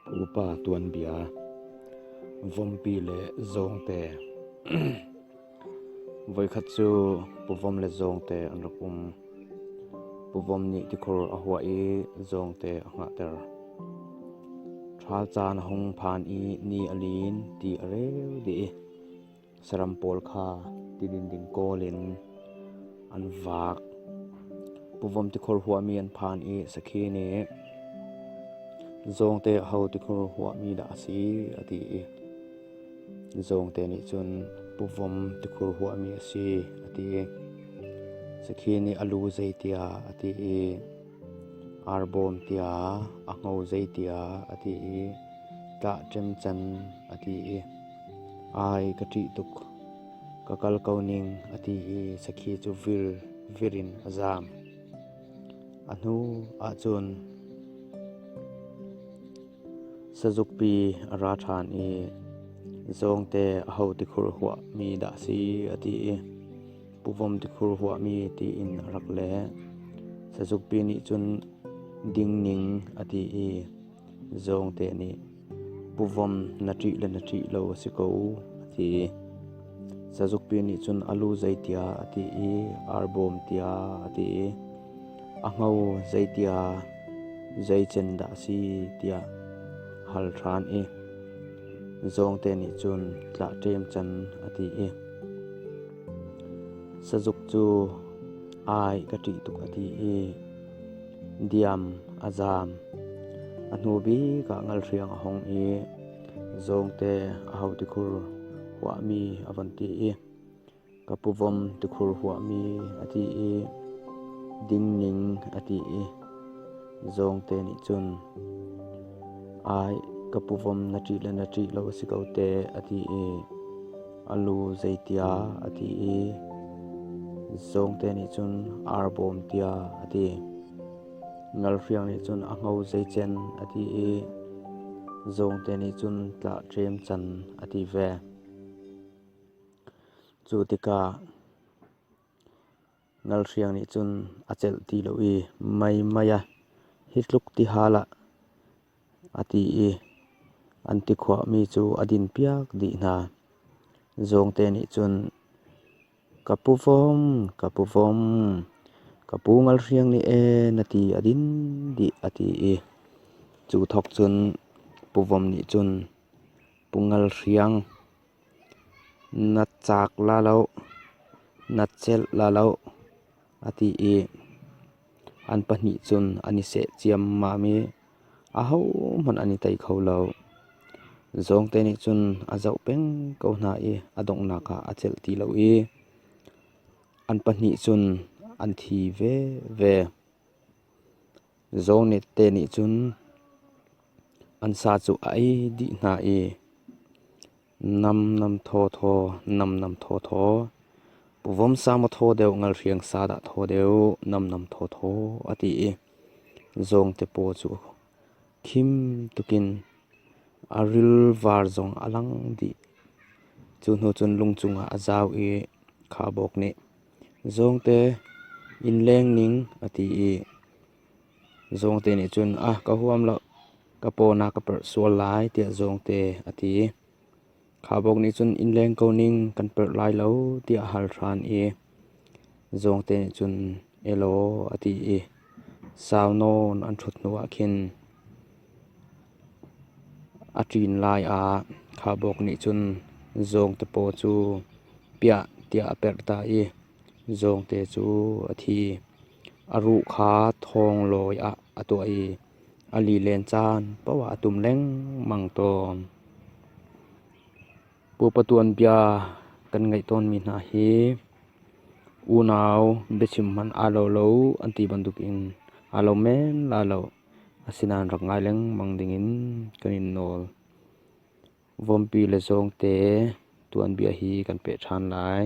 Upa tuanbia, vompi le zawngte. Voikhat cu puvom le zawngte an rak um. Puvom nih tikhur a huah i zawngte a hngahter. Ṭhal caan a hung phan i ni a lin, ti a reu dih i. saram pawl kha tilin ding kawl in an vaak. Puvam tikhur huami an phan i sakhi nih zawngte ho tikhur huami dah a si a ti i zawngte nih cun puvom tikhur huami a si a ti. Sakhi nih a lu zei tiah a ti i Arbawm tiah a ngo zei tiah a ti i ṭah ṭemcan a ti i ai ka ṭih tuk, ka kal ko ning a ti i sakhi cu vir vir in a zaam. A hnu ahcun sazukpi a ra ṭhan i zawngte a ho tikhur huahmi dah si a ti i puvom tikhur huahmi tiin a rak leh. Sazukpi nih cun dingning a ti i zawngte nih puvom na ṭih le na ṭih lo a si ko a ti. Sazukpi nih cun a lu zeitiah a ti i arbawm tiah a ti i a ngo zeitiah zeicen dah a si tiah hal ṭhan i zawngte nih cun tlah ṭem can a ti i Sazuk cu ai ka ṭih tuk a ti i diam a zaam. A hnu bik ah ngalhriang a hong i zawngte a hau tikhur huahmi a von ti i ka puvawm tikhur huahmi a ti i dingning a ti i zawngte nih cun ai ka puvawm na ṭih le na ṭih lo a si ko teh a ti i a lu zeitiah a ti i zawngte nih cun ar bawm tiah a ti. Ngalhriang nih cun a ngo zeicen a ti i zawngte nih cun tlah ṭem can a ti ve. Cu tikah Ngalhriang nih cun a celh ti lo i, Mei, mei a hi tluk ti hal ah, a ti i an tikhuahmi cu a din piak dih hna. Zawngte nih cun, Ka pu Vawm, ka pu Vawm, ka pu Ngalhriang nih ee na ti a din dih, a ti i cu thawk cun Pu Vawm nih cun Pu Ngalhriang, Na cak la loh, na celh la loh, a ti i an pahnih cun an i seh ciammam i ahohmanh an i tei kho lo. Zawngte nih cun a zoh peng ko hna i a donghnak ah a celh ti lo i an pahnih cun an thi veve. Zaw te nih cun an sa cu a ei dih hna i namnam thawthaw, namnam thawthaw, pu vom sa maw thaw deuh ngalhriang sa dah thaw deuh namnam thawthaw a ti i zawng te paw cu khim tukin a ril var zong a lang dih. Cu hnu cun lung cungah a zau i khabawk nih Zawngte inn leng ning a ti i Zawngte nih cun a ka huam lo, ka paw na ka perh sual lai tiah Zawngte a ti. Khabok nih cun inn leng ko ning kan perh lai lo tiah a hal ṭhan i Zawngte nih cun elaw a ti i sau nawn an ṭhut hnuah khin. A ṭin lai ah khaubawk nih cun zawngtapaw cu piah tiah a perh ta i zawngte cu a thi. A ruh kha thawnglawi ah a tuah i a lilen caan paoh ah a tum lengmang tawn. Pupa tuanbia kan ngeih tawnmi hna hi unau biachim hmanh aa lo lo an ti bantuk in aa lo men la lo. Asinain rak ngai lengmang dingin kan in nawl. Vawmpi le zawngte tuanbia hi kan peh ṭhan lai.